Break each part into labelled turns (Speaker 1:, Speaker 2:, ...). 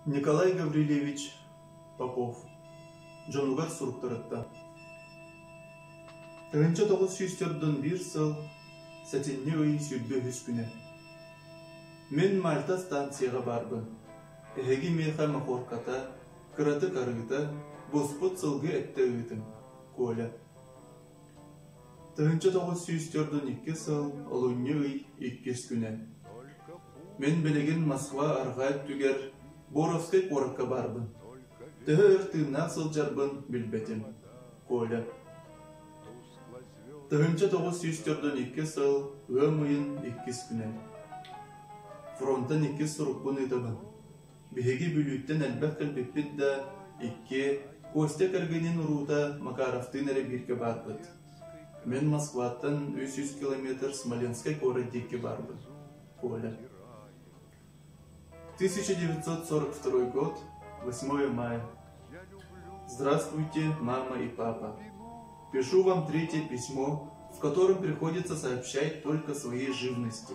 Speaker 1: Николай Гаврильевич Попов дьонугар суруктарыттан тыһыынча тоҕус сүүс төрдөн биир сыл сэтинньи ый сүүрбэ үһүс күнэ Мин Мальта станцияҕа баарбын эһиги миэхэ мохуорката кыратык арыыта буспут сылгы эттэ ыытым Коля Тыһыынча тоҕус сүүс төрт уон икки сыл олунньу ый иккис күнэ Мин билигин Москва арҕаа өттүгэр Боровскай куоракка баарбын. Төһө өр тыыннаах сылдьарбын билбэтим. Коля Тыһыынча тоҕус сүүс төрт уон икки сыл ыам ыйын иккис күнэ. Фронтан иккис сурукпун ыытабын. Биһиги Бүлүүттэн элбэх кэлбиппит да, икки, Костя кэргэнин уруута Макаровтыын эрэ бииргэ баарбыт. Мин Москваттан үс сүүс километр Смоленскай куорат диэки барбын. Коля. 1942 год, 8 мая. Здравствуйте, мама и папа. Пишу вам третье письмо, в котором приходится сообщать только свои живности.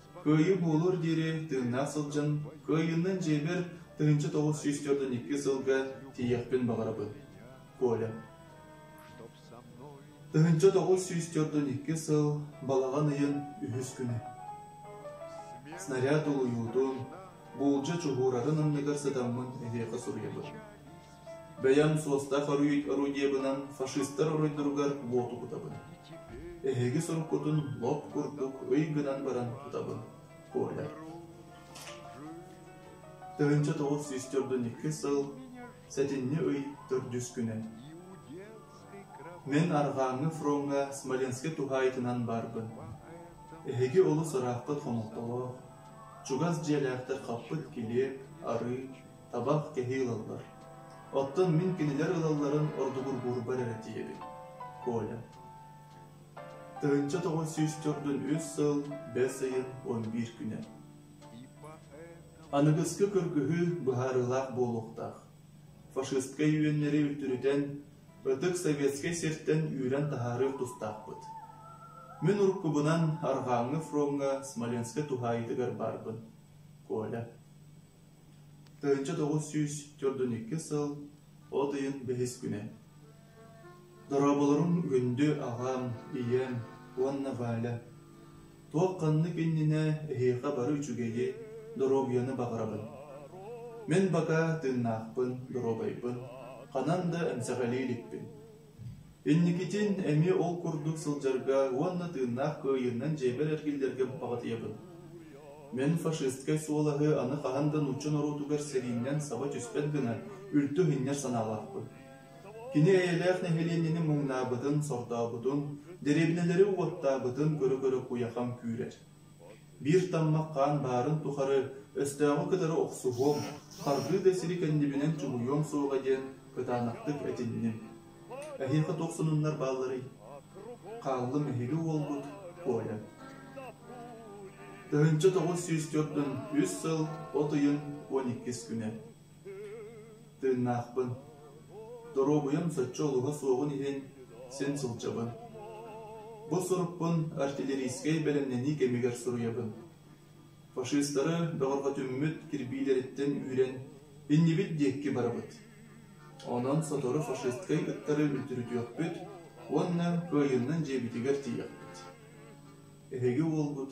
Speaker 1: Кыайыы буолуор диэри тыыннаах сылдьан, кыайыыннан дьиэбэр тыһыынча тоҕус сүүс төрдөн икки сылга тиийиэхпин баҕарабын. Коля Тыһыынча тоҕус сүүс төрдөн икки сыл балаҕан ыйын үһүс күнэ. Снаряд улуйуутун, буулдьа чуһууратын анныгар сытаммын эһиэхэ суруйабын. Бэйэм суостаах оройуот орудиебынан фашистар оройдоругар уоту кутабын, эһиги соруккутун лоп курдук ый гынан баран тутабын, Коля. Тыһыынча тоҕус сүүс төрдүнньүкү сыл сэтинньи ый төрдүс күнэ. Мин арҕааҥҥы фроҥҥа Смоленскай туһаайытынан баарбын. Эһиги олус ыраахпыт хомолтолоох, чугас дьиэлээхтэр хаппыт килиэп, арыы, табах кэһии ылаллар. Оттон мин кинилэр ылалларын ордугургуурбар эрэ тиийэбин. Коля Тыһынча тоҕус сүүс төрдүн үс сыл, бэс ыйын он биир күнэ. Аныгыскы кыргыһыы быһаарыылаах буолуохтаах. Фашистскай үөннэри үлтүрүтэн, ытык советскай сиртэн үүрэн таһаарыыр тустаахпыт. Мин уруккубунан Арҕааҥҥы фроҥҥа Смоленскай туһаайытыгар барбын. Коля Тыһыынча тоҕус сүүс төрдүн икки сыл, от ыйын бэһис күнэ. Дорооболоруҥ күндү аҕам, ийэм уонна Валя. Туох-ханнык иннинэ эһиэхэ бары үчүгэйи, доруобуйаны баҕарабын. Мин пока тыыннаахпын, доруобайбын, ханан да эмсэҕэлии иликпин. Инникитин эмиэ ол курдук сылдьарга уонна тыыннаах кыайыынан дьиэбэр эргиллэргэ баппаҕытыйабын. Мин фашистскай суолаһы аны хаһан да нуучча норуотугар сэрииннэн саба түспэт гына үлтү иһиннэр санаалаахпын. Кини эйэлээх нэһилиэнньэни муҥнаабытын, сордообутун, дэриэбинэлэри уоттаабытын көрө-көрө куйахам күүрэр. Биир таммах хаан баарын тухары өстөөҕү кытары охсуһуом, харгыы да сири кэннибинэн чуҥуйуом суоҕа диэн кытаанахтык этинним. Эһиэхэ туох сонуннар баалларый? Хааллым эһиги уолгут Коля. Тыһыынча тоҕус сүүс төрдүн үс сыл, от ыйын он иккис күнэ Тыыннаахпын, доруобуйам соччо олуһа суоҕун иһин син сылдьабын. Бу сурукпун артиллерийскэй бэлэмнэнии кэмигэр суруйабын. Фашистары бөҕөрҕөтүммүт кирбиилэриттэн үүрэн иннибит диэкки барабыт. Онон сотору фашисткай ыттары үлтүрүтүөхпүт уонна кыайыннан дьиэбитигэр тиийэхпит. Эһиги уолгут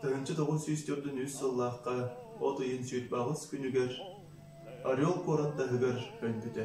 Speaker 1: Тыһыынча тоҕус сүүс төрдүн-үс сыллаахха от ыйын сүүрбэҕис күнүгэр Орел куорат таһыгар өлбүтэ